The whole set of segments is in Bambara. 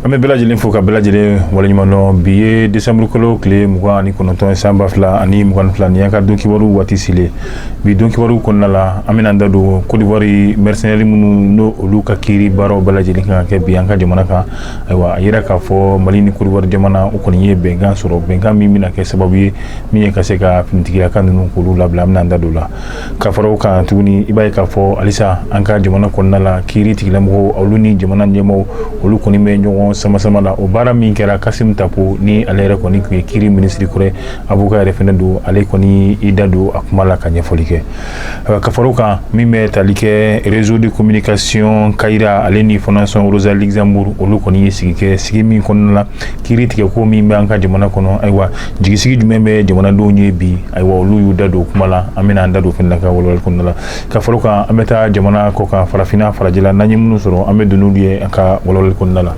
an bɛ bɛɛ lajɛlen fo ka bɛɛ lajɛlen waleɲumandɔn bi ye desanburu kalo tile mugan ani kɔnɔntɔn san ba fila ani mugan ni fila nin y'an ka don kibaru waati selen bi don kibaru kɔnɔna la an bɛna an da don kodiwari mɛrisɛnɛri minnu n'o olu ka kiiri baaraw bɛɛ lajɛlen kan ka kɛ bi an ka jamana kan ayiwa a yira k'a fɔ mali ni kodiwari jamana u kɔni ye bɛnkan sɔrɔ bɛnkan min bɛna kɛ sababu ye min ye ka se ka finitigilaka ninnu k'olu labila an bɛna da don la ka fara o kan tuguni i b'a ye k'a fɔ halisa an ka jamana kɔnɔna la kiiri tigilamɔgɔw olu ni jamana ɲɛmɔgɔw olu kɔni bɛ ɲɔgɔn samasama la o baara min kɛra kasim tapo ni ale yɛrɛ kɔni tun ye kiiri minisiri kɔrɔ avoka yɛrɛ fɛnɛ don ale kɔni i da don a kuma la ka ɲɛfɔli kɛ Euh, ka fara o kan min bɛ tali kɛ réseau de communication kayira ale ni fondation rosa luxembourg olu kɔni ye sigi kɛ sigi min kɔnɔna la kiiri tigɛ ko min bɛ an ka jamana kɔnɔ ayiwa jigisigi jumɛn bɛ jamanadenw ye bi ayiwa olu y'u da don kuma la an bɛna an da don fɛnɛ ka walawali kɔnɔna la ka fara o kan an bɛ taa jamana kɔkan farafinna farajɛla n'an ye minnu sɔrɔ an bɛ don n'olu ye an ka walawali kɔnɔna la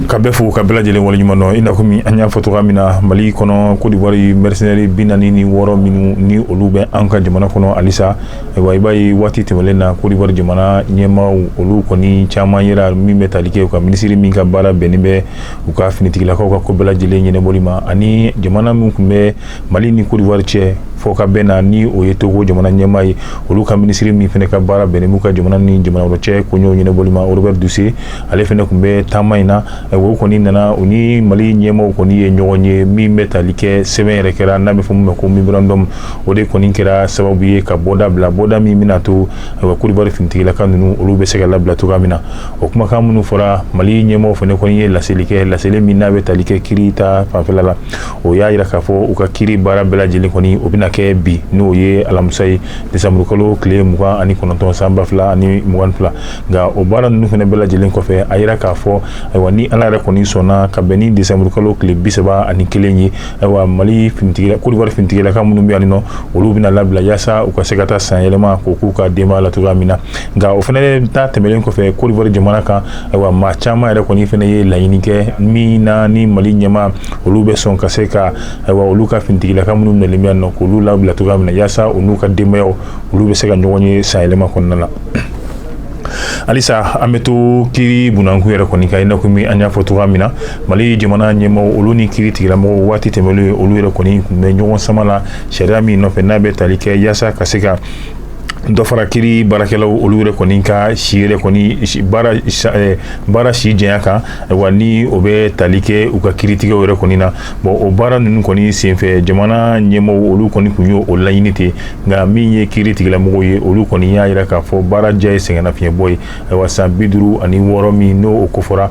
ka bɛɛ fo ka bɛɛ lajɛlen waleɲumandɔn i na kɔmi an y'a fɔ cogoya min na mali kɔnɔ kodiwari mɛrisɛnɛri bi naani ni wɔɔrɔ minnu ni olu bɛ an ka jamana kɔnɔ halisa ayiwa i b'a ye waati tɛmɛnlen na kodiwari jamana ɲɛmaaw olu kɔni caman yera min bɛ tali kɛ u ka minisiri min ka baara bɛnnen bɛ u ka finitigilakaw ka ko bɛɛ lajɛlen ɲɛnabɔli ma ani jamana min tun bɛ mali ni kodiwari cɛ fɔkabɛn na ni o ye togo jamana ɲɛmaa ye olu ka minisiri min fɛnɛ ka baara bɛnnen b'u ka jamana ni jamana wɛrɛ cɛ koɲɛw ɲɛnabɔli ma robert dussey ale fɛnɛ tun bɛ taama in na o kɔni nana u ni mali ɲɛmaaw kɔni ye ɲɔgɔn ye min bɛ tali kɛ sɛbɛn yɛrɛ kɛra n'a bɛ fɔ min ma ko memorandum o de kɔni kɛra sababu ye ka bɔda bila bɔda min bɛna to ayiwa kodiwari finitigilaka ninnu olu bɛ se ka labila cogoya min na o kumakan minnu fɔra mali ɲɛmaaw fɛnɛ kɔni ye laseli kɛ laseli min n'a bɛ tali kɛ kiiri ta fanfɛla la o y'a yira k'a fɔ u ka kiiri baara bɛɛ lajɛlen kɔni o bɛna kɛ bi n'o ye alamisa ye desanburukalo tile mugan ani kɔnɔntɔn san ba fila ani mugan fila nka o baara ninnu fɛnɛ bɛɛ lajɛlen kɔfɛ a yira k'a fɔ ayiwa ni ala yɛrɛ kɔni sɔnna ka bɛn ni desanburukalo tile bi saba ani kelen ye ayiwa mali finitigi kodiwari finitigilaka minnu bɛ yan nɔ olu bɛna labila yaasa u ka se ka taa san yɛlɛma ko k'u ka denbaya la cogoya min na nka o fɛnɛ ta tɛmɛnlen kɔfɛ kodiwari jamana kan ayiwa maa caman yɛrɛ kɔni fɛnɛ ye laɲini kɛ min na ni mali ɲɛmaa olu bɛ sɔn ka se ka ayiwa olu ka finitigilaka minnu nalen bɛ yan nɔ k'olu labila cogoya min na yaasa u n'u ka denbaya olu bɛ se ka ɲɔgɔn ye san yɛlɛma kɔnɔna la halisa an bɛ to kiiri bunda kun yɛrɛ kɔni kan i na kɔmi an y'a fɔ cogoya min na mali jamana ɲɛmaaw olu ni kiiri tigilamɔgɔw waati tɛmɛnlen olu yɛrɛ kɔni tun bɛ ɲɔgɔn sama la sariya min nɔfɛ n'a bɛ tali kɛ yaasa ka se ka dɔ fara kiri baarakɛlaw olu yɛrɛ kɔni ka si yɛrɛ kɔni eh, baara si janya kan wa ni o bɛ tali kɛ u ka kiritigɛw yɛrɛ kɔni na bon o baara ninnu kɔni senfɛ jamana ɲɛmaaw olu kɔni tun y'o laɲini ten nka min ye kiri tigilamɔgɔw ye olu kɔni y'a yira k'a fɔ baara diya ye sɛgɛnnafiɲɛbɔ ye ayiwa san bi duuru ani wɔɔrɔ min n'o o kofɔra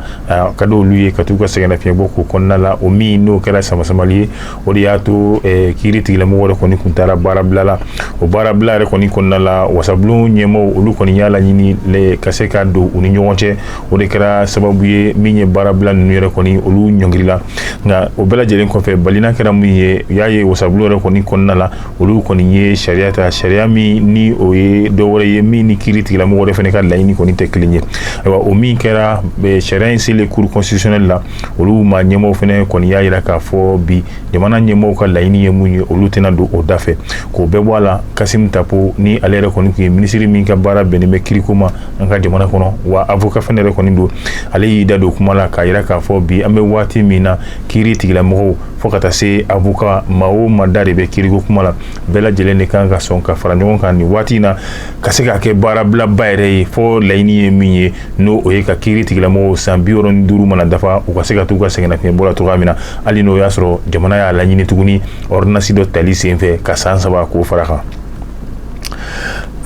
ka di olu ye ka t'u ka sɛgɛnnafiɲɛbɔ k'o kɔnɔna la o min n'o kɛra samasamali ye o de y'a to eh, kiiri tigilamɔgɔw yɛrɛ kɔni kun taara baarabila la o baarabila yɛrɛ kɔni kɔnɔna la wasabulon ɲɛmaaw olu kɔni y'a laɲini ka se ka don u ni ɲɔgɔn cɛ o de kɛra sababu ye min ye baarabila ninnu yɛrɛ kɔni olu ɲɔngirila nka o bɛɛ lajɛlen kɔfɛ balina kɛra min ye u y'a ye wasabulon yɛrɛ kɔni kɔnɔna la olu kɔni ye sariya ta sariya min ni o ye dɔ wɛrɛ ye min ni kiiri tigilamɔgɔw yɛrɛ fɛnɛ ka laɲini kɔni tɛ kelen ye ayiwa o min kɛra eh, sariya in selen cour constitutionnelle la olu maa ɲɛmaaw fɛnɛ kɔni y'a yira k'a fɔ bi jamana ɲɛmaaw ka laɲini ye mun ye olu tɛna don o da fɛ k'o bɛɛ bɔ a la kasim tapo ni ale yɛrɛ kɔni tun ye minisiri min ka baara bɛnnen bɛ kiriko ma an ka jamana kɔnɔ wa avocat fɛnɛ yɛrɛ kɔni don ale y'i da don kuma la k'a yira k'a fɔ bi an bɛ waati min na kiri tigilamɔgɔw fo ka taa se avocat maa o maa da de bɛ kiriko kuma la bɛɛ lajɛlen de kan ka sɔn ka fara ɲɔgɔn kan nin waati in na ka se k'a kɛ baarabilaba yɛrɛ ye fɔ laɲini ye min ye n'o o ye ka kiiri tigilamɔgɔw san bi wɔɔrɔ ni duuru mana dafa u ka se ka t'u ka sɛgɛnnafiɲɛbɔ la cogoya min na hali n'o y'a sɔrɔ jamana y'a laɲini tuguni ɔridinasi dɔ tali senfɛ ka san saba k'o fara kan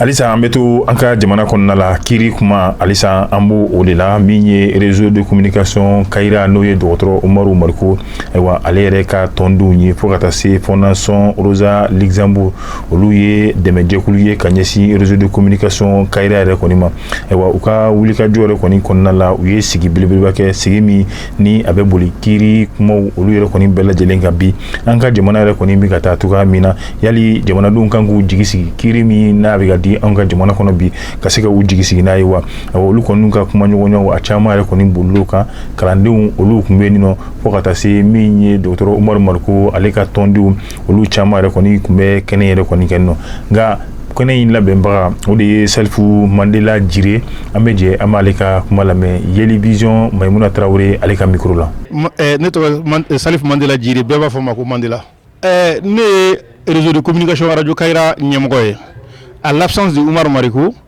halisa an bɛ to an ka jamana kɔnɔna la kiiri kuma halisa an b'o de la min ye réseau de communication kayira n'o ye dɔgɔtɔrɔ umaru mariko ayiwa ale yɛrɛ ka tɔndenw ye fo ka taa se fondation rosa luxembourg olu ye dɛmɛjɛkulu ye ka ɲɛsin réseau de communication kayira yɛrɛ kɔni ma Ayiwa u ka wulikajɔ yɛrɛ kɔni kɔnɔna la u ye sigi belebeleba kɛ sigi min ni a bɛ boli kiiri kumaw olu yɛrɛ kɔni bɛɛ lajɛlen kan bi an ka jamana yɛrɛ kɔni bɛ ka taa cogoya min na yali jamanadenw kan k'u jigi sigi kiiri min n'a bɛ ka di an ka jamana kɔnɔ bi ka se ka u jigi sigi n'a ye wa olu kɔni ka kumaɲɔgɔnya caman yɛrɛ kɔni bolil'o kan kalandenw olu tun bɛ yen nɔ fo ka taa se min ye dɔgɔtɔrɔ umaru mariko ale ka tɔndenw olu caman yɛrɛ kɔni tun bɛ kɛnɛ yɛrɛ kɔni kan nɔ nka kɛnɛ in labɛnbaga o de ye salifu mandela jire an bɛ jɛ an b'ale ka kuma lamɛn yeli vision mayimuna tarawele ale ka mikoro la eh, ne tɔgɔ salifu mandela jire bɛɛ b'a fɔ n ma ko mandela eh, ne ye réseau de communication radio kayira ɲɛmɔgɔ ye à l'absence de umaru mariko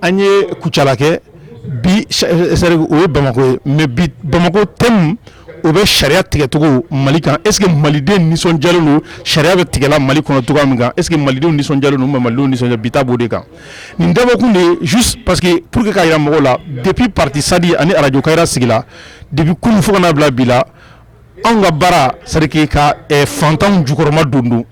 An ye kucala kɛ bi sari o ye bamakɔ ye mais bi bamakɔ thème o bɛ sariya tigɛcogo mali kan est-ce que malidenw nisɔndiyalen don sariya bɛ tigɛla mali kɔnɔ cogoya min kan est-ce que malidenw nisɔndiyalen don wa malidenw nisɔn bi ta b'o de kan nin dabɔkun de juste parce que pour que k'a yira mɔgɔw la depuis parti sadi ani arajo kayira sigila depuis kunun fo ka bila bi la anw ka baara c'est à dire que ka fantanw jukɔrɔmadondon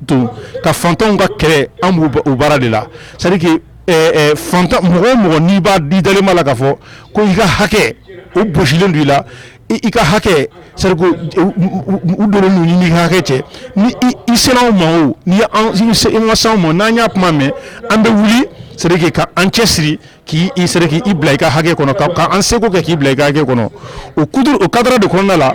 ka fantanw ka kɛlɛ anw b'o o baara de la c'est à dire que ɛ ɛ fantan mɔgɔ o mɔgɔ n'i b'a n'i dalen b'a la k'a fɔ ko i ka hakɛ o bɔsilen don i la i i ka hakɛ c'est à dire que u u u u donnen don i n'i ka hakɛ cɛ ni i i sera anw ma o n'i ye anw i se i ma s'anw ma o n'an y'a kuma mɛn an bɛ wuli c'est à dire que ka an cɛsiri k'i c'est à dire k'i bila i ka hakɛ kɔnɔ k'an seko kɛ k'i bila i ka hakɛ kɔnɔ o cadre de kɔnɔna la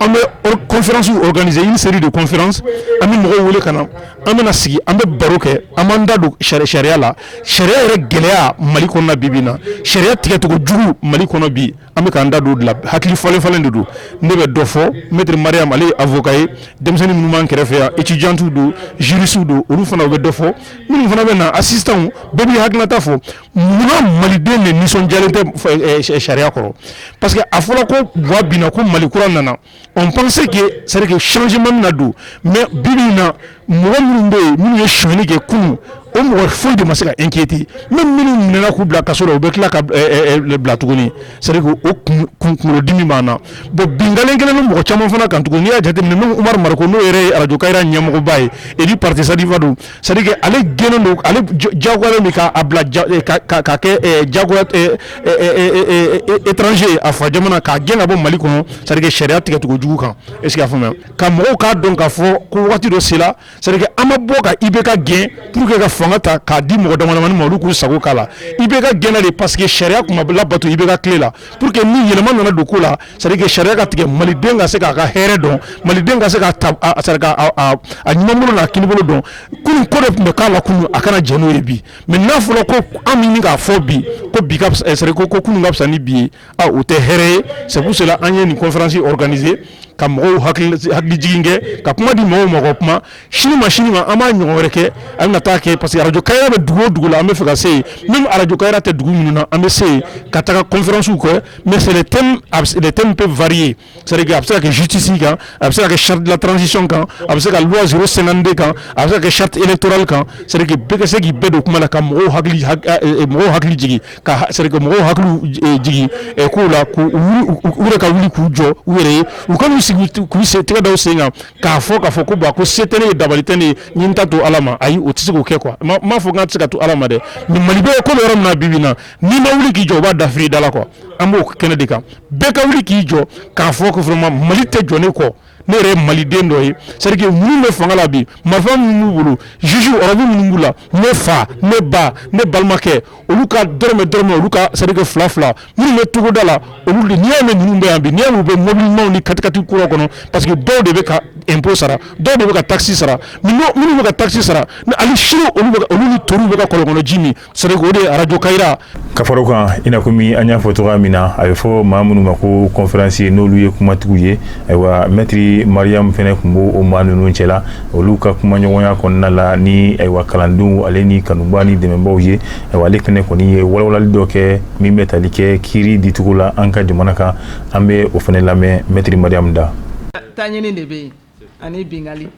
an bɛ conférence organiser une série de conférences an bɛ mɔgɔw wele ka na an bɛna sigi an bɛ baro kɛ an b'an da don sari sariya la sariya yɛrɛ gɛlɛya mali kɔnɔ bi bi in na sariya tigɛcogo jugu mali kɔnɔ bi An bɛ k'an da don o de la hakili falen falen de don ne bɛ dɔ fɔ maître Mariam ale ye avocat ye denmisɛnnin minnu b'an kɛrɛfɛ yan étudiants don juristes don olu fana bɛ dɔ fɔ minnu fana bɛ na assistance bɛɛ b'i hakilinata fɔ munna maliden de nisɔndiyalen tɛ sariya kɔrɔ parce que a fɔra ko Boua binna ko mali kura nana on pensait que c'est à dire que changement bɛna don mais bi bi in na mɔgɔ minnu bɛ yen minnu ye sonyali kɛ kunun o mɔgɔ foyi de ma se ka inquiéter même minnu minɛna k'u bila kaso la u bɛ tila ka bila tuguni c'est à dire que o kunkolodimi b'an na bon binkanni kɛra ni mɔgɔ caman fana kan tugun n'i y'a jate minɛ même Umaru Mariko n'o yɛrɛ ye arajo Kayra ɲɛmɔgɔba ye ani parti Sadi fa don C'est à dire que ale gɛnnen don ale jagoyalen don k'a bila ka kɛ jagoya étranger a fa jamana k'a gɛn ka bɔ mali kɔnɔ c'est à dire que sariya tigɛcogo jugu kan est-ce que a faamuya ka mɔgɔw k'a dɔn k'a fɔ ko waati dɔ sera c'est à dire que an ma bɔ ka IBK gɛn pour que ka fanga ta k'a di mɔgɔ damadamani ma olu k'u sago k'a la IBK gɛnna de parce que sariya tun ma labato IBK tile la Pour que ni yɛlɛma nana don ko la c'est à dire que sariya ka tigɛ maliden ka se k'a ka hɛrɛ dɔn maliden ka se k'a ta a c'est à dire k'a a a a numanbolo n'a kinibolo dɔn kunun ko de tun bɛ k'a la kunun a kana jɛn n'o ye bi mais n'a fɔra ko an bɛ ɲini k'a fɔ bi ko bi ka fisa c'est à dire ko ko kunun ka fisa ni bi ye a o tɛ hɛrɛ ye c'est pour cela an ye nin conférence organiser ka mɔgɔw hakili hakili jigin kɛ ka kuma di mɔgɔw ma u ka kuma sini ma sini ma an b'a ɲɔgɔn wɛrɛ kɛ an na taa kɛ parce que arajo Kayra bɛ dugu o dugu la an b'a fɛ ka se yen même arajo Kayra tɛ dugu minnu na an bɛ se yen ka taga conférence kɛ mais c'est les thèmes peuvent varier c'est à dire que a bɛ se ka kɛ justice kan a bɛ se ka kɛ charte de la transition kan a bɛ se ka loi zéro cinquante-deux kan a bɛ se ka kɛ charte électorale kan c'est à dire que bɛɛ ka se k'i bɛɛ don kuma na ka mɔgɔw hakili mɔgɔw hakili jigin ka mɔgɔw hakili jigin k'u la ka wuli k'u jɔ u yɛrɛ ye u kan'u sigi k'u sen tɛgɛ da u sen kan k'a fɔ k'a fɔ ko bon ko se tɛ ne ye, dabali tɛ ne ye, n ye n ta to Ala ma, ayi o tɛ se k'o kɛ quoi n m'a fɔ k'a tɛ se ka to Ala ma dɛ mais Mali bɛ ko bɛ yɔrɔ min na bi bi in na n'i ma wuli k'i jɔ u b'a dafiri i da la quoi an b'o kɛnɛ de kan bɛɛ ka wuli k'i jɔ k'a fɔ ko vraiment Mali tɛ jɔ ne kɔ ne yɛrɛ ye Maliden dɔ ye c'est à dire que minnu bɛ fanga la bi marifa minnu b'u bolo juges robe minnu b'u la ne fa ne ba ne balimakɛ olu ka dɔrɔmɛ dɔrɔmɛ olu ka c'est-à-dire que fila fila minnu bɛ togoda la olu de n'i y'a mɛn ninnu bɛ yan bi n'i y'a mɛn u bɛ mobili ɲumanw ni katikati kura kɔnɔ parce que dɔw de bɛ ka impôt sara dɔw de bɛ ka taxe sara minnu bɛ ka taxe sara hali sini olu ni toriw bɛ ka kɔlɔnkɔnɔ ji min c'est-à-dire que o de arajo Kayira ka fara o kan i n'a kɔmi an y'a fɔ cogo min na a bɛ fɔ maa minnu ma ko conférencier n'olu ye kumatigiw ye ayiwa mɛtiri Mariyamu fɛnɛ tun b' o maa ninnu cɛ la olu ka kumaɲɔgɔnya kɔnɔna la ni ayiwa kalandenw ale ni kanubaa ni dɛmɛbaaw ye ayiwa ale fɛnɛ kɔni ye walawalali dɔ kɛ min bɛ tali kɛ kiiri dicogo la an ka jamana kan an bɛ o fɛnɛ lamɛn mɛtiri Mariyamu da taɲini de bɛ yen ani binkali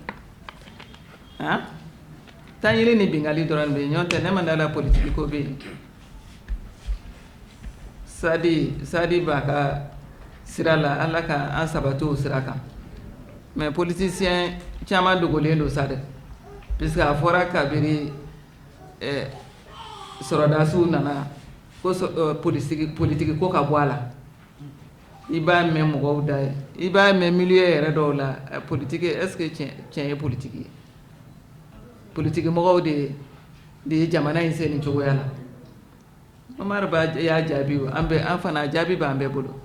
taɲini ni binkali dɔrɔn n'o tɛ ne ma da a la politiki ko bɛ yen Sadi sadi b'a ka sira la ala ka an sabati o sira kan mais politicien caman dogolen don sa dɛ puisque a fɔra kabiri sɔrɔdasiw nana ko politiki ko ka bɔ a la i b'a mɛn mɔgɔw da ye i b'a mɛn milieu yɛrɛ dɔw la politiki est-ce que tiɲɛ ye politiki ye politiki mɔgɔw de ye de ye jamana in se nin cogoya la Omar Ba y'a jaabi an an fana jaabi b'an bɛɛ bolo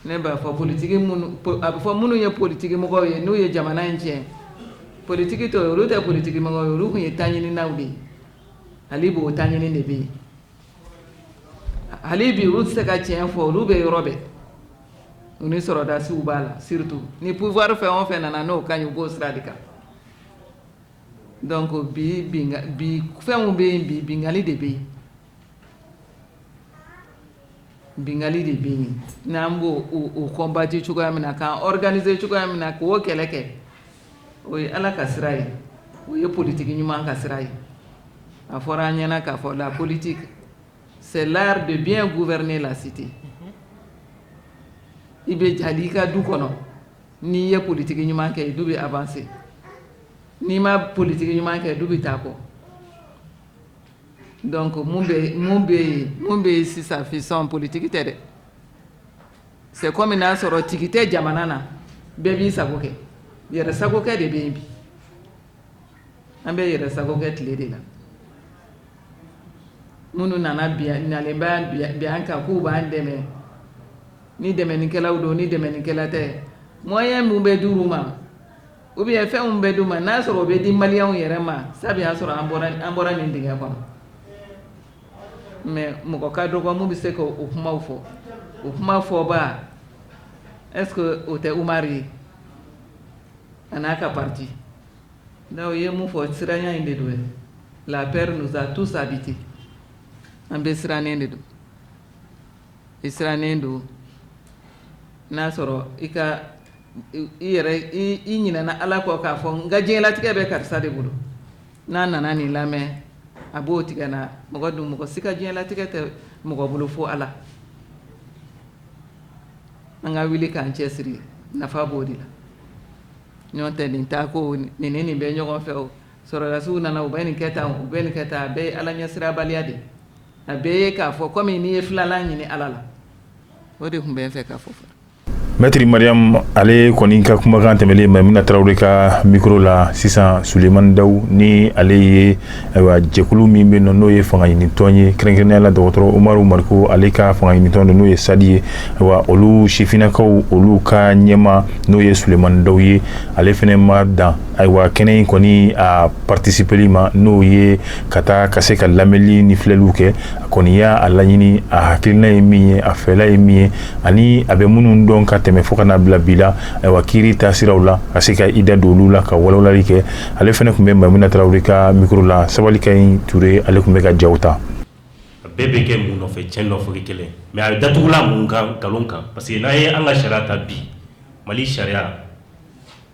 ne b'a fɔ politiki a bɛ fɔ minnu ye politikimɔgɔ ye n'u ye jamana in tiɲɛ politiki tɔ olu tɛ politikimɔgɔ ye olu tun ye taɲininaw de ye hali bi o taɲini de bɛ yen hali bi olu tɛ se ka tiɲɛ fɔ olu bɛ yɔrɔ bɛɛ u ni sɔrɔdasiw b'a la surtout ni pouvoir fɛn o fɛn nana n'o ka ɲi u b'o sira de kan Donc bi binkan bi fɛn minnu bɛ yen bi binkali de bɛ yen, binkali de bɛ yen n'an b'o o combattre cogoya min na k'an organiser cogoya min na k'o kɛlɛ kɛ o ye Ala ka sira ye, o ye politique ɲuman ka sira ye, a fɔra an ɲɛna k'a fɔ la politique c'est l'art de bien gouverner la cité i b'a ye hali i ka du kɔnɔ N'i ye politiki ɲuman kɛ du bɛ avancer n'i ma politiki ɲuman kɛ du bɛ taa kɔ donc mun bɛ yen sisan vision politique tɛ dɛ c'est comme n'a sɔrɔ tigi tɛ jamana na bɛɛ b'i sago kɛ yɛrɛ sago kɛ de bɛ yen bi an bɛ yɛrɛ sago kɛ tile de la minnu nana bi nalen bɛ an kan k'u b'an dɛmɛ ni dɛmɛnikɛlaw don ni dɛmɛnikɛla tɛ moyen min bɛ di u ma ou bien fɛn min bɛ di u ma n'a sɔrɔ o bɛ di maliyɛnw yɛrɛ ma sabu y'a sɔrɔ an bɔra nin dingɛ kɔnɔ mais mɔgɔ ka dɔgɔ minnu bɛ se ka o kuma fɔ o kuma fɔba est-ce que o tɛ umaru ye a n'a ka pati donc o ye mun fɔ siranya in de don la peur nous a tous habités an bɛ sirannen de don i sirannen don n'a sɔrɔ i yɛrɛ i ɲinɛna Ala kɔ k'a fɔ n ka diɲɛlatigɛ bɛ karisa de bolo n'a nana nin lamɛn a b'o tigɛ n na mɔgɔ dun mɔgɔ si ka diɲɛlatigɛ tɛ mɔgɔ bolo fo Ala an ka wuli k'an cɛsiri nafa b'o de la n'o tɛ nin taa ko nin ni nin bɛ ɲɔgɔn fɛ o sɔrɔdasiw nana u bɛ nin kɛ tan u bɛ nin kɛ tan a bɛɛ ye Ala ɲɛsirabaliya de ye A bɛɛ ye k'a fɔ komi n'i ye filanan ɲini ala la o de tun bɛ n fɛ k'a fɔ mɛtiri mariam ale kɔni ka kumakan tɛmɛnen mayimuna tarawele ka mikoro la sisan solemani dawu ni ale ye ayiwa jɛkulu min bɛ na n'o ye fanga ɲinitɔn ye kɛrɛnkɛrɛnnenya la dɔgɔtɔrɔ umaru mariko ale ka fanga ɲinitɔn don n'o ye sadi ye ayiwa olu sifinnakaw olu ka ɲɛma n'o ye solemani dawu ye ale fɛnɛ ma dan ayiwa kɛnɛ in kɔni a partisipeli ma n'o ye ka taa ka se ka lamɛnli ni filɛliw kɛ a kɔni y'a a laɲini a hakilina ye min ye a fɛla ye min ye ani a bɛ minnu dɔn ka tɛmɛ fo ka na bila bi la ayiwa kiiri taasiraw la ka se ka i da don olu la ka walawalali kɛ ale fɛnɛ tun bɛ mayimuna tarawele ka mikoro la sabalikayi ture ale tun bɛ ka jaw ta a bɛɛ bɛ kɛ mun nɔfɛ cɛn nɔfɛ kelen mais a datugula mun kan nkalon kan parce que n'an ye an ka sariya ta bi mali sariya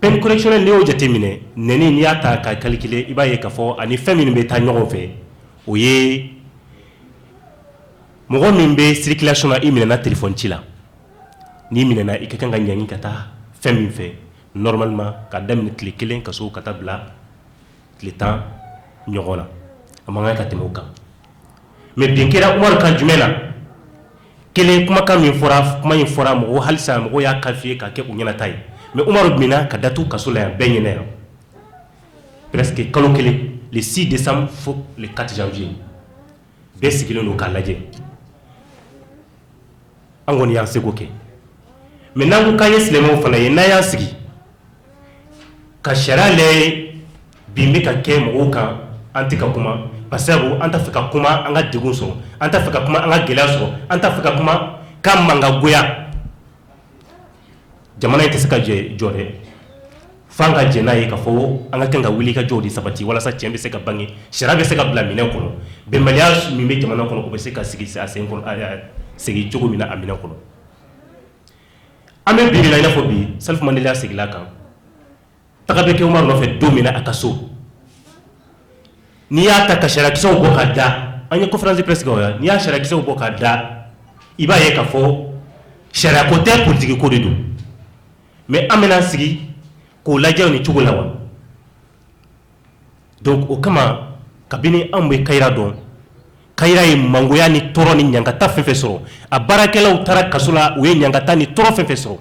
peine correctionnelle n'i y'o jateminɛ nɛni n'i y'a ta ka calculer i b'a ye k'a fɔ ani fɛn minnu bɛ taa ɲɔgɔn fɛ o ye mɔgɔ min bɛ circulation na i minɛna téléphone ci la n'i minɛna i ka kan ka ɲangi ka taa fɛn min fɛ normalement ka daminɛ tile kelen ka ka taa bila tile tan ɲɔgɔn na a man kan ka tɛmɛ o kan mais bin kɛra umaru kan jumɛn na kelen kumakan min fɔra kuma in fɔra mɔgɔ halisa mɔgɔ y'a qualifié ka kɛ u ɲɛnata ye mais umaru minɛna ka datugu kaso la yan bɛɛ ɲɛna yan presque kalo kelen le six décembre fo le quatre janvier bɛɛ sigilen don k'a lajɛ an kɔni y'an seko kɛ mais n'an ko k'an ye silamɛw fana ye n'an y'an sigi ka sariya lajɛ bin bɛ ka kɛ mɔgɔw kan an tɛ ka kuma parce que an t'a fɛ ka kuma an ka degun sɔrɔ an t'a fɛ ka kuma an ka gɛlɛya sɔrɔ an t'a fɛ ka kuma k'an mangoya jamana in tɛ se ka jɔ dɛ fo an ka jɛn n'a ye ka fɔ an ka kan ka wulikajɔ de sabati walasa tiɲɛ bɛ se ka bange sariya bɛ se ka bila minɛn kɔnɔ bɛnbaliya min bɛ jamana kɔnɔ o bɛ se ka sigi a sen segin cogo min na a minɛn kɔnɔ An bɛ bi min na i n'a fɔ bi Salifu Mandela seginna a kan taga bɛ kɛ Umaru nɔfɛ don min na a ka so n'i y'a ta ka sariyakisɛw bɔ ka da an ye conférence de presse kɛ o la n'i y'a sariyakisɛw bɔ ka da i b'a ye ka fɔ sariya ko tɛ politique ko de don mais an bɛn'an sigi k'o lajɛ nin cogo la wa? o kama kabini anw bɛ kayira dɔn kayira ye mangoya ni tɔɔrɔ ni ɲagata fɛn fɛn sɔrɔ a baarakɛlaw taara kaso la u ye ɲagata ni tɔɔrɔ fɛn fɛn sɔrɔ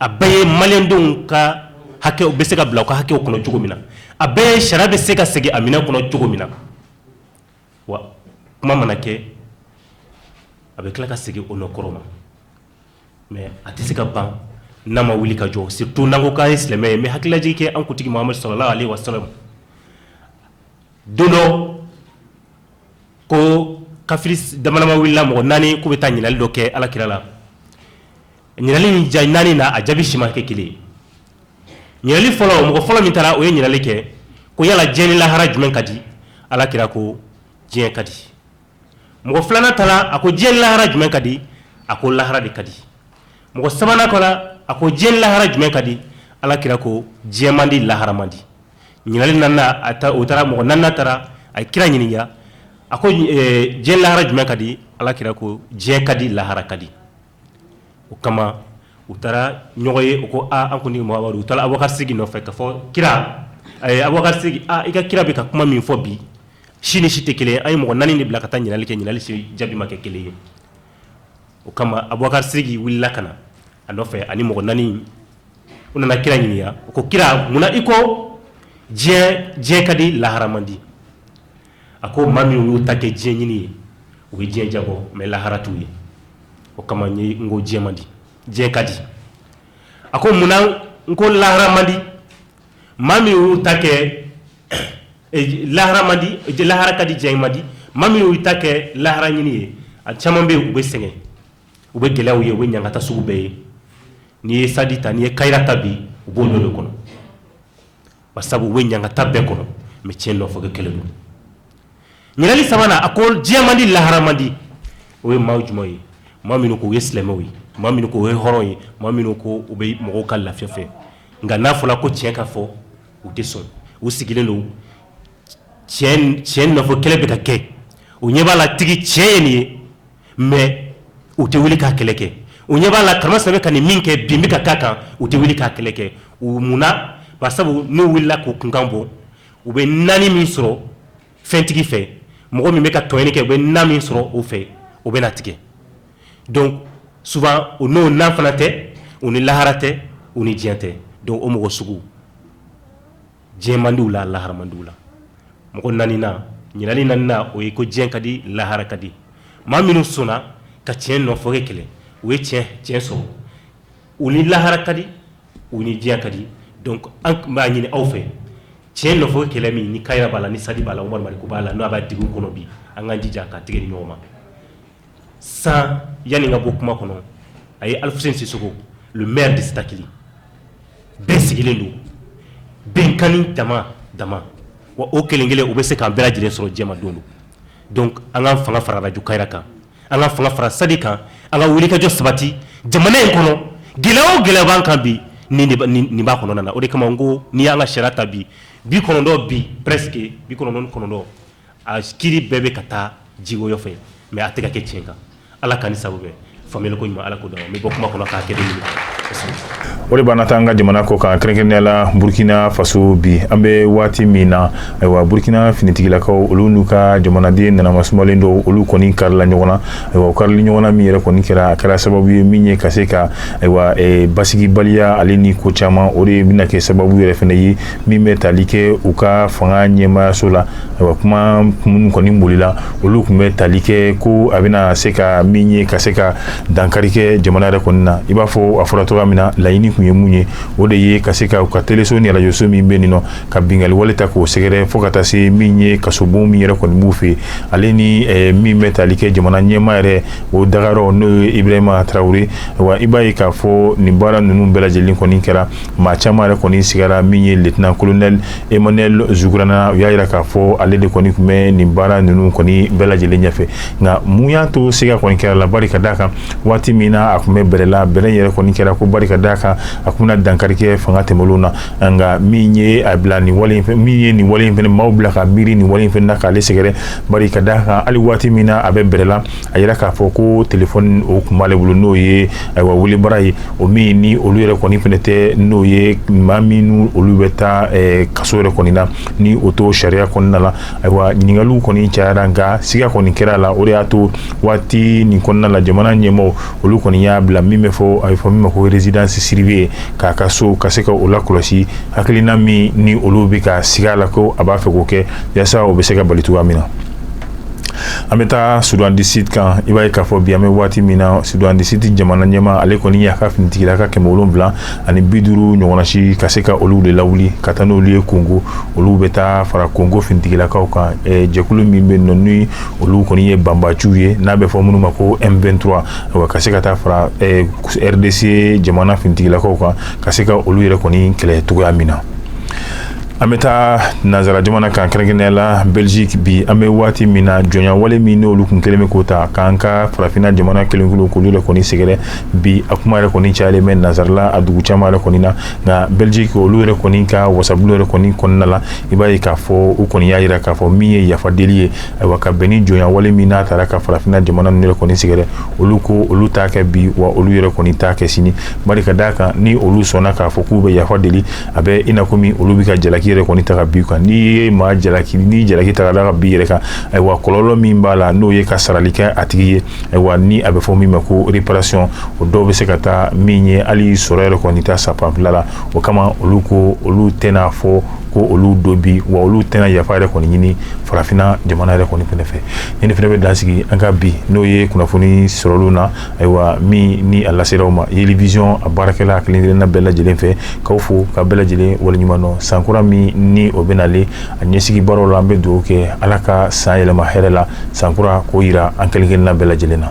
a bɛɛ ye malidenw ka hakɛ bɛ se ka bila ka hakɛw kɔnɔ cogo min na a bɛɛ ye sariya bɛ se ka segin a minɛn kɔnɔ cogo min na wa kuma mana kɛ a bɛ tila ka segin o nɔ kɔrɔ ma mais a tɛ se ka ban n'an ma wuli ka jɔ surtout n'an ko k'an ye silamɛ ye n bɛ hakililajigin kɛ an kuntigi muhamadu salalahu aleyihi wa salam don dɔ ko kafiri damadama wulila mɔgɔ naani k'u bɛ taa ɲininkali dɔ kɛ ala kira la ɲininkali ni jaabi naani na a jaabi si ma kɛ kelen ɲininkali fɔlɔ mɔgɔ fɔlɔ min taara o ye ɲininkali kɛ ko yala diɲɛ ni lahara jumɛn ka di ala kira ko diɲɛ ka di mɔgɔ filanan taara a ko diɲɛ ni lahara jumɛn ka di a ko lahara de ka di mɔgɔ sabanan taara a ko diɲɛ ni lahara jumɛn ka di ala kira ko diɲɛ man di lahara man di ɲininkali naaninan a taa u taara mɔgɔ naaninan taara a ye kira ɲininka a ko diɲɛ ni lahara jumɛn ka di ala kira ko diɲɛ ka di lahara ka di o kama u taara ɲɔgɔn ye u ko an kɔni u taara abubakari sidiki nɔfɛ ka fɔ kira abubakari sidiki i ka kira bɛ ka kuma min fɔ bi si ni si tɛ kelen an ye mɔgɔ naani de bila ka taa ɲininkali kɛ ɲininkali si jaabi ma kɛ kelen ye o kama abubakari sidiki wulila ka na a nɔfɛ ani mɔgɔ naani u nana kira ɲininka ko kira munna i ko diɲɛ ka di lahara man di a ko maa min y'u ta kɛ diɲɛ ɲini ye u bɛ diɲɛ diya bɔ mais lahara t'u ye o kama ye n ko diɲɛ man di diɲɛ ka di a ko munna n ko lahara man di maa min y'u ta kɛ lahara man di lahara ka di diɲɛ man di maa min y'u ta kɛ lahara ɲini ye a caman bɛ u bɛ sɛgɛn u bɛ gɛlɛyaw ye u bɛ ɲagata sugu bɛɛ ye n'i ye sadi ta n'i ye kayira ta bi u b'o dɔ de kɔnɔ ba sabu bɛ ɲangata bɛɛ kɔnɔ mɛ cɛn nɔfɛ kɛlɛ don ɲinili sabanan a ko diɲɛ man di lahara man di o ye maa jumɛnw ye maa minnu k'u ye silamɛw ye maa minnu k'u ye hɔrɔnw ye maa minnu ko u bɛ mɔgɔw ka lafiya fɛ nka n'a fɔra ko cɛn ka fɔ u tɛ sɔn u sigilen don cɛn nɔfɛ kɛlɛ bɛ ka kɛ u ɲɛ b'a la tigi cɛn ye nin ye mais u tɛ wuli k'a kɛlɛ kɛ, u ɲɛ b'a la Karimasina bɛ ka nin min kɛ bin bɛ ka k'a kan, u tɛ wuli k'a kɛlɛ kɛ, u munna? Bari sabu n'u wulila k'u kunkan bɔ, u bɛ nanin min sɔrɔ fɛntigi fɛ, mɔgɔ min bɛ ka tɔɲɔni kɛ, u bɛ na min sɔrɔ o fɛ, o bɛna tigɛ donc souvent u n'o na fana tɛ, u ni lahara tɛ, u ni diɲɛ tɛ donc o mɔgɔ sugu diɲɛmandiw la laharamandiw la mɔgɔ naaninan ɲinili naaninan o ye ko diɲɛ ka di lahara ka di maa minnu sɔnna ka tiɲɛ nɔfɛ kɛlɛ u ye tiɲɛ sɔrɔ u ni lahara ka di u ni diɲɛ ka di donc an b'a ɲini aw fɛ tiɲɛ nɔfɛ kɛlɛ min ni kayira b'a la ni sadi b'a la umaru mariko b'a la n'a b'a dugu kɔnɔ bi an k'an jija ka tɛgɛ di ɲɔgɔn ma sa yanni n ka bɔ kuma kɔnɔ a ye alfousseni sissoko le maire de sitakily bɛɛ sigilen don bɛnkan dama dama wa o kelen kelen u bɛ se k'an bɛɛ lajɛlen sɔrɔ jama don dɔ donc an ka fanga fara arajo kayira kan an ka fanga fara sadi kan an ka wulikajɔ sabati jamana in kɔnɔ gɛlɛya o gɛlɛya b'an kan bi nin b'a kɔnɔna na o de kama n ko n'i y'an ka sariya ta bi bi kɔnɔntɔn bi presque bi kɔnɔntɔn kɔnɔntɔn a kiri bɛɛ bɛ ka taa jiwoyo fɛ mɛ a tɛ ka kɛ tiɲɛ kan ala ka ni sago fa ko ɲuman ala ko n bɛ bɔ kuma kɔnɔ k'a kɛ o de b'an na taa an ka jamana kɔkan kɛrɛnkɛrɛnnenya la burukina faso bi an bɛ waati min na ayiwa burukina finitigilakaw olu n'u ka jamanaden nanama sumalen dɔw olu kɔni karila ɲɔgɔn na ayiwa karili ɲɔgɔnna min yɛrɛ kɔni kɛra a kɛra sababu ye min ye ka se ka ayiwa basigibaliya ale ni ko caman o de bɛna kɛ sababu yɛrɛ fɛnɛ ye min bɛ tali kɛ u ka fanga ɲɛmaayaso la ayiwa kuma minnu kɔni bolila olu tun bɛ tali kɛ ko a bɛna se ka min ye ka se ka dankari kɛ jamana yɛrɛ kɔni na i b'a fɔ a fɔra cogoya min na laɲini tun ye mun ye o de ye ka se ka u ka teleso ni arajoso min bɛ nin nɔ ka binkanni wale ta k'o sɛgɛrɛ fo ka taa se min ye kasobon min yɛrɛ kɔni b'u fɛ ale ni eh, min bɛ tali kɛ jamana ɲɛmaa yɛrɛ o dagayɔrɔ n'o ye ibrahima tarawele wa i b'a ye k'a fɔ nin baara ninnu bɛɛ lajɛlen kɔni kɛra maa caman yɛrɛ kɔni sigara min ye lieutenant colonel Emmanuel Zougrana u y'a jira k'a fɔ ale de kɔni tun bɛ nin baara ninnu kɔni bɛɛ lajɛlen ɲɛfɛ nka mun y'a to siga kɔni kɛra a la bari ka d'a kan waati min na a tun bɛ bɛrɛ la bɛrɛ yɛrɛ kɔni kɛra ko bari ka d'a kan a tun bɛna dankari kɛ fanga tɛmɛnlenw na nka min ye a bila nin wale in fɛ min ye nin wale in fɛnɛ maaw bila ka miiri nin wale in fɛnɛ na k'ale sɛgɛrɛ bari ka d'a kan hali waati min na a bɛ bɛrɛ la a jira k'a fɔ ko telefɔni o tun b'ale bolo n'o ye ayiwa wele bara ye o min ni olu yɛrɛ kɔni fɛnɛ tɛ n'o ye maa min olu bɛ taa kaso yɛrɛ kɔni na ni o to sariya kɔnɔna la ayiwa ɲininkali kɔni cayara nka siga kɔni kɛra a la o de y'a to waati nin kɔnɔna la jamana ɲɛmɔgɔ olu kɔni y'a bila min bɛ fɔ a bɛ fɔ min ma ko résidence surveillée k'a ka so ka se ka o lakɔlɔsi hakilina min ni olu bɛ ka siga la ko a b'a fɛ k'o kɛ yaasa o bɛ se ka bali cogoya min na an bɛ taa soudan du sud kan i b'a ye k'a fɔ bi an bɛ waati min na soudan du sud jamana ɲɛmaa ale kɔni y'a ka finitigilaka kɛmɛ wolonwula ani bi duuru ɲɔgɔnna ci ka se ka olu de lawuli ka taa n'olu ye kongo olu bɛ taa fara kongo finitigilakaw kan jɛkulu min bɛ yen ni olu kɔni ye banbaanciw ye n'a bɛ fɔ minnu ma ko m23 wa ka se ka taa fara rdc jamana finitigilakaw kan ka se ka olu yɛrɛ kɔni kɛlɛ cogoya min na an bɛ taa nansara jamana kan kɛrɛnkɛrɛnnenya la belziki bi an bɛ waati min na jɔnya wale min n'olu tun kɛlen bɛ k'o ta k'an ka farafinna jamana kelenkulu kulu de kɔni sɛgɛrɛ bi a kuma yɛrɛ kɔni cayalen bɛ nansarala a dugu caman yɛrɛ kɔni na nka belziki olu yɛrɛ kɔni ka wasabulon yɛrɛ kɔni kɔnɔna la i b'a ye k'a fɔ u kɔni y'a jira k'a fɔ min ye yafa deli ye ayiwa ka bɛn ni jɔnya wale min n'a taara ka farafinna jamana nin yɛrɛ kɔni sɛgɛrɛ olu ko olu t'a kɛ bi wa olu yɛrɛ kɔni t'a kɛ sini bari ka d'a kan ni olu sɔnna k'a fɔ k'u bɛ yafa deli a bɛ i n'a komi olu bɛ ka jalaki yɛrɛ kɔni ta ka bi kan n'i ye maa jalaki ni jalaki ta da ka bi yɛrɛ kan ayiwa kɔlɔlɔ min b'a la n'o ye ka sarali kɛ a tigi ye ayiwa ni a bɛ fɔ min ma ko réparation o dɔ bɛ se ka taa min ye hali sɔrɔ yɛrɛ kɔni ta sapanfila la o kama olu ko olu tɛna fɔ ko olu don bi wa olu tɛna yafa yɛrɛ kɔni ɲini farafina jamana yɛrɛ kɔni fɛnɛ fɛ ni ne fɛnɛ bɛ dan sigi an ka bi n'o ye kunnafoni sɔrɔlenw na ayiwa min ni a lasera aw ma yeli vision a baarakɛla kelenkelenna bɛɛ lajɛlen fɛ k'aw fo ka bɛɛ lajɛlen waleɲuman dɔn sankura min ni o bɛ nalen a ɲɛsigi baaraw la an bɛ dugawu kɛ ala ka san yɛlɛma hɛrɛ la sankura k'o jira an kelenkelenna bɛɛ lajɛlen na